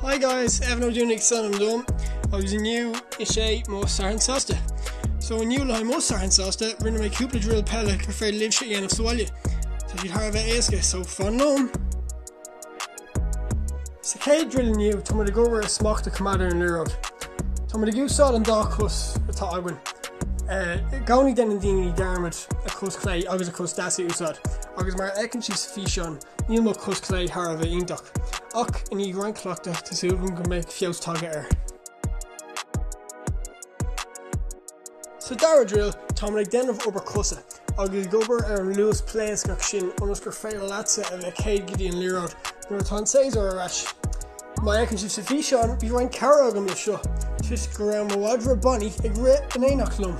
Hi guys, Evan Ó Dúnaigh is ainm dom agus inniu is é mo Satharn Sásta. So inniu le haghaidh mo Satharn Sásta rinne mé cúpla drill peile gur féidir libhse a dhéanamh sa bhaile. Tá siad thar a bheith éasca so fan liom. Sa céad drill inniu tá muid ag obair ar smacht a coimeád ar an liathróid. Tá muid ag úsáid an dá cos atá againn. Uh, i gcónaí déanann daoine dearmad a cos clé agus a cos deas a úsáid agus mar a fheiceann sibh sa físeán Níl mo chos clé thar a bheith iontach, ach i ndiaidh roinnt cleachtadh tá súil agam go mbeidh feabhas tagtha air. Sa dara drill tá mé ag déanamh obair cosa agus ag obair ar an luas pléascach sin ionas gur féidir leatsa a bheith céad go dtí an liathróid nuair atá an séasúr ar ais. Mar a fheiceann sibh sa físeán, bhí roinnt cabhair agam leis seo, toisc go raibh mo mhadra Bonnie ag rith in éineacht liom.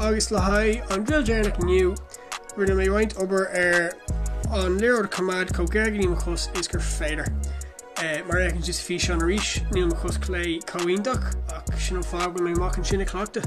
Agus le haghaidh an Drill Deireanach inniu, rinne mé roinnt obair ar an liathróid coimeád chomh gar go dtí mo chos is gur féidir. Mar a fheiceann sibh sa físeán arís, níl mo chos clé chomh iontach, ach sin an fáth go bhfuil mé amach ansin ag cleachtadh.